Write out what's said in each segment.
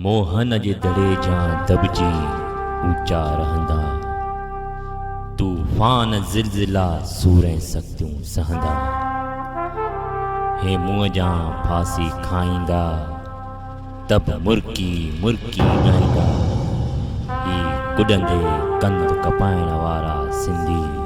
موهن جي دڙي جيان دٻجي اوچا رهندا. طوفان زلزلا سور ۽ سختيون سهندا. هي منهن جيان ڦاسي کائيندا. ته به مرڪي مرڪي ڳائيندا. هي ڪڏندي ڪنڌ ڪپائڻ وارا سنڌي.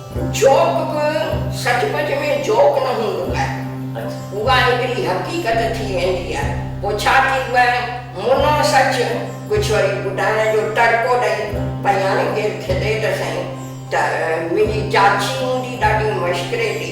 جوڪ به سچ پچ ۾ جوڪ نه هوندو آهي. اها هڪڙي حقيقت ٿي ويندي آهي. پوء ڇا ٿيندو آهي، منهن سچ، ڪجهه وري ٻڌائڻ جو ٽڙڪو ڏئي پئي هاڻي ڪير کيڏي ته سهي ته منهنجي چاچي هوندي ڏاڍي مشڪريٽي،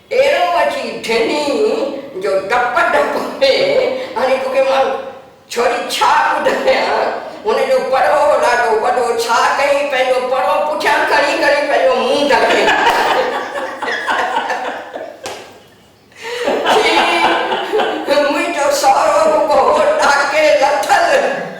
اهڙو اچي ڍني جو ڊپ ڊپ ۾ هڻي ڪوڪي مارو. ڇوري ڇا ٻڌايان هن جو پرو هو ڏاڍو وڏو ڇا ڪيائين پنهنجو پرو پٺيان کڻي کڻي پنهنجو منهن ڍڪيائين ڇي منهنجو سهرو رڳو هو ڏاڪي لٿل.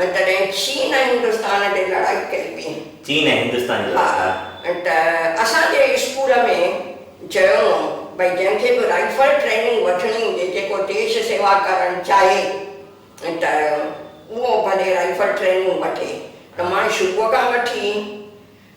۽ تڏهن چين ۽ هندستان ڏي لڙائي ڪئي وئي. چين ۽ هندستان جي لڙائي ها. ته اسان جي اسڪول ۾ چيو هو ڀئي جنهن کي به رائفل ٽريننگ وٺڻي هجي جيڪو ديش سيوا ڪرڻ چاهي ته اهو ڀلي رائفل ٽريننگ وٺي ته مان شروع کان وٺي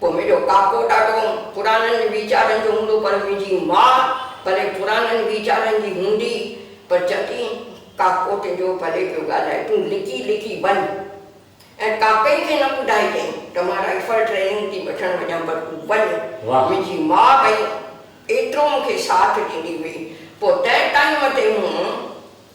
پوء منهنجو ڪاڪو ڏاڍو پرانن ويچارن جو هوندو پر منهنجي ماء ڀلي پرانن ويچارن جي هوندي پر چوندي هئي ڪاڪو تنهنجو ڀلي پيو ڳالهائي تون لڪي لڪي وڃ ۽ ڪاڪئي کي نه ٻڌائجئين ته مان رائفل ٽريننگ ٿي وٺڻ وڃان پر تون وڃ منهنجي ماء ڀئي ايترو مون کي ساٿ ڏيندي هئي پوء تنهن ٽائيم تي مون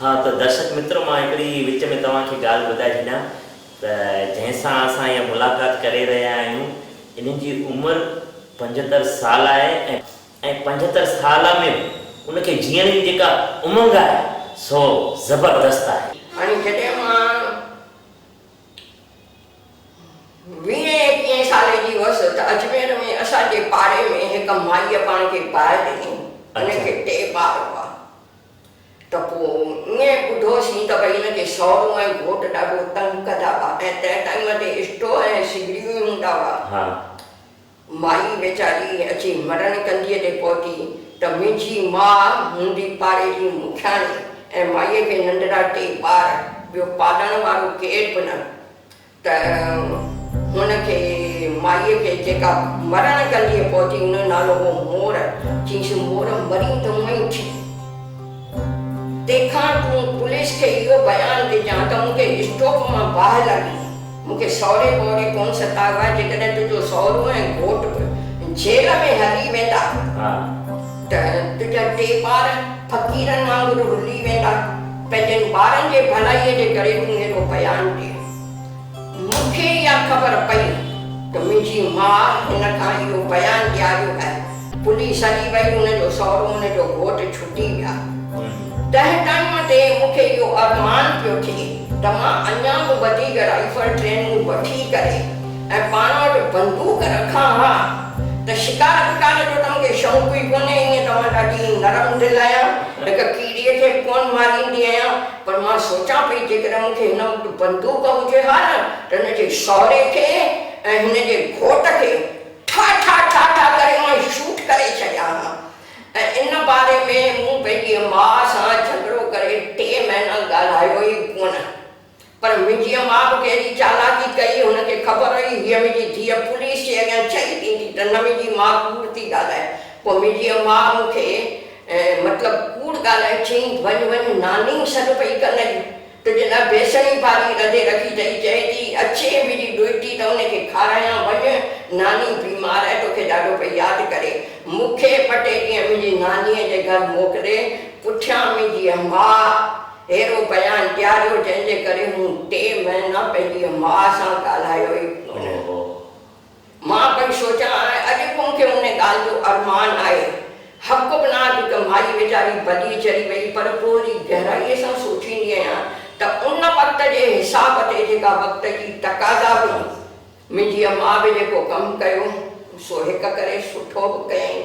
ها ته درشڪ مترو مان هڪڙي وچ ۾ توهان کي ڳالهه ٻڌائي ڇڏيان ته جنهن سان اسان اها ملاقات ڪري رهيا آهيون انهن جي عمر پنجهتر سال آهي ۽ پنجهتر سال ۾ به ان کي جيئڻ جي جيڪا امنگ آهي سو زبردست آهي. هاڻي جڏهن مان ويهين ايڪيهين سالي جي هئس ته اجمير ۾ اسان جي پاڙي ۾ هڪ مائيء پاڻ کي پائي ڏنو هن کي ٽي ٻار هئا ته پوء ائين ٻڌو سين ته ڀئي هن جي سئرو ۽ گهوٽ ڏاڍو تنگ ڪندا هئا ۽ تنهن ٽائيم تي اسٽو ۽ سگڙيون ئي هوندا هئا. مائي ويچاري اچي مرڻ ڪنڌيء تي پهتي ته منهنجي ماء هوندي پاڙي جي مکياڻي ۽ مائيء کي ننڍڙا ٽي ٻار، ٻيو پالڻ وارو ڪير به نه. ته هن کي مائيء کي جيڪا مرڻ ڪنڊيء پهتي ان جو نالو هو مور، چيس مور مرين ته اونئين اٿي. تنهن کان تون پوليس کي اهو بيان ڏجان ته مون کي اسٽوپ مان باهه لڳي. مون کي سهري پهري ڪونه ستايو آهي، جيڪڏهن تنهنجو سهرو ۽ گهوٽ به جيل ۾ هلي ويندا ته تنهنجا ٽي ٻار فقيرن وانگر رلي ويندا. پنهنجن ٻارن جي ڀلائيء جي ڪري تون هيڏو بيان ڏين. مون کي اها خبر پئي ته منهنجي ماء هن کان اهو بيان ڏياريو ۽ پوليس هلي وئي، هن جو سهرو هن جو گهوٽ ڇٽي ويا. تنهن ٽائيم تي مون کي اهو ارمان پيو ٿئي ته مان اڃا به وڌيڪ رائيفل ٽريننگ وٺي ڪري ۽ پاڻ وٽ بندوق رکان ها ته شڪار وڪار جو ته مونکي شوق ئي ڪونهي ائين ته مان ڏاڍي نرم دل آهيان هڪ ڪيڙي کي به ڪونه ماريندي آهيان پر مان سوچان پئي جيڪڏهن مونکي هن وٽ بندوق هجي ها نه ته هن جي سهري کي ۽ هن جي گهوٽ کي ٺا ٺا ٺا ٺا ڪري ائين شوٽ ڪري ڇڏيان ها ۽ ان باري ۾ مون پنهنجي ماء سان جهڳڙو ڪري ٽي مهينا ڳالهايو ئي ڪونه پر منهنجيء ماء به ڪهڙي چالاڪي ڪئي، هن کي خبر هئي هيء منهنجي ڌيء پوليس جي اڳيان چئي ڏيندي ته نه منهنجي ماء ڪوڙ ٿي ڳالهائي. پوء منهنجيء ماء مون کي مطلب ڪوڙ ڳالهائي چيائين، وڃ وڃ ناني سڏ پئي ڪن اڄ تنهنجي لاء بيسڻي ڀاڄي رڌي رکي اٿئي، چئي ٿي اچي منهنجي ڏوهٽي ته ان کي کارايان، وڃ ناني بيمار آهي توکي ڏاڍو پئي ياد ڪري. مون کي ٻه ٽي ڏينهن منهنجي نانيء جي گهر موڪلي پٺيان منهنجيء ماء. اهڙو بيان ڏياريو جنهن جي ڪري مون ٽي مهينا پنهنجي ماء سان ڳالهايو ئي ڪونه. مان پئي سوچان ۽ اڄ به مون کي ان ڳالهه جو ارمان آهي. حق به ناهي ته مائي ويچاري ڀلي چري وئي پر پوء وري گهرائيء سان سوچيندي آهيان ته ان وقت جي حساب تي جيڪا وقت جي تقاضا هئي منهنجيء ماء به جيڪو ڪم ڪيو سو هڪ ڪري سٺو به ڪيائين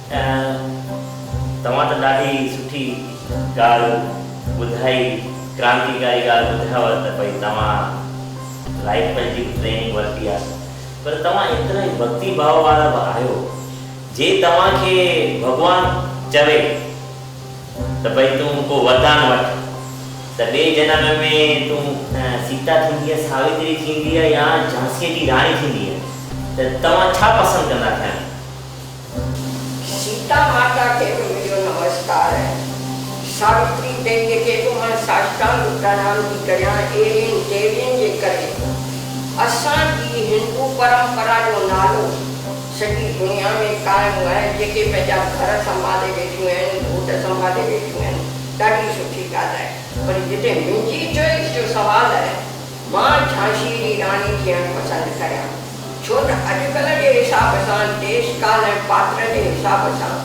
توهان ته ڏاڍي سٺي ڳالهه ٻڌائي ڪرانتيڪاري ڳالهه ٻڌايو ته ڀئي توهان رائفل جي به ٽريننگ ورتي آهي پر توهان ايترا ئي ڀڳتي ڀاء وارا به آهيو جي توهان کي ڀڳوان چوي ته ڀئي تون ڪو وردان وٺ ته ٻئي جنم ۾ تون سيتا ٿيندينء ساوتري ٿيندينء يا جھانسيء جي راڻي ٿيندينء ته توهان ڇا پسند ڪندا ٿيڻ؟ سيتا ماتا کي به منهنجو نمسڪار ۽ ساوتري تي جيڪي به مان ساشٽانگ پرڻام ٿي ڪريان اهڙين ديوين جي ڪري اسان جي هندو پرمپرا جو نالو سڄي دنيا ۾ قائم آهي جيڪي پنهنجا گهر سنڀالي ويٺيون آهن گهوٽ سنڀالي ويٺيون آهن ڏاڍي سٺي ڳالهه آهي پر جتي منهنجي چوائس جو سوال آهي مان جھانسيء جي راڻي ٿيڻ پسند ڪريان، ڇو ته اڄڪلهه جي حساب سان، ديس ڪال ۽ پاتر جي حساب سان،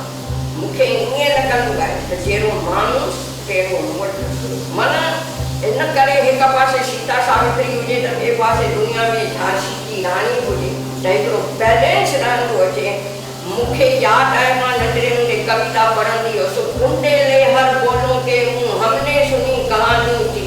مون کي ائين لڳندو آهي ته جهڙو ماڻهو تهڙو مڙد. من ان ڪري هڪ پاسي سيتا ساوتري هجي ته ٻئي پاسي دنيا ۾ جھانسيء جي راڻي به هجي ته هڪڙو بيلنس رهندو اچي. مون کي ياد آهي مان ننڍڙي هوندي ڪويتا پڙهندي هيس، بونڊي لي هر بولون ڪي هون، همني سني ڪهاني ٿي.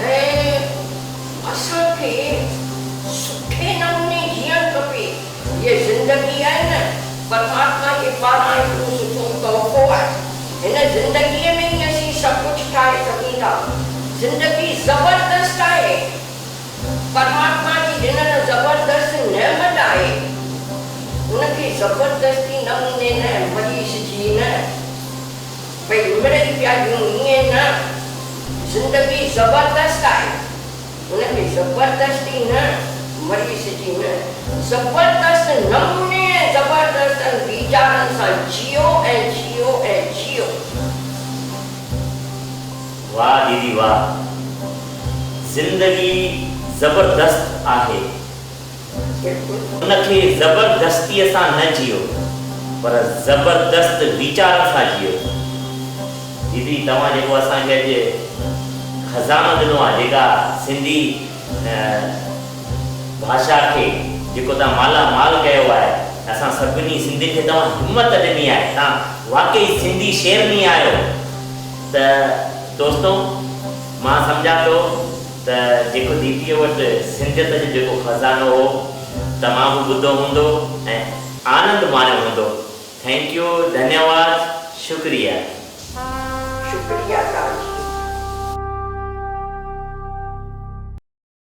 ۽ اسان کي سٺي نموني جيئڻ کپي. هيء زندگي آهي نه پرماتما جي پاران هڪ ٻيو سٺو تحفو آهي. هن زندگيء ۾ ئي اسين سڀ ڪجهه ٺاهي سگهون ٿا. زندگي زبردست آهي. پرماتما جي ڏنل زبردست نعمت آهي. ان کي زبردستي نموني نه مڃيسجي نه. ڀئي مڙئي پيا ڏيون ائين نه زندگي زبردست آهي ان ۾ زبردستي نه مري سجي نه زبردست نموني ۽ زبردستن ويچارن سان جيئو ۽ جيئو ۽ جيئو. واھ ديدي واھ زندگي زبردست آھي. ان کي زبردستيء سان نه جيئو، پر زبردست ويچارن سان جيئو. ديدي توهان جيڪو اسان کي اڄ خزانو ڏنو آهي، جيڪا سنڌي ڀاشا کي جيڪو توهان مالا مال ڪيو آهي، اسان سڀني سنڌين کي توهان همت ڏني آهي، توهان واقعي سنڌي شيرني آهيو ته دوستو مان سمجهان ٿو. ته جيڪو ديديء وٽ سنڌيت جو جيڪو خزانو هو توهان به ٻڌو هوندو ۽ آنند ماڻيو هوندو ٿينڪ يو ڌنيواد شڪريه. شڪريه توهان جي.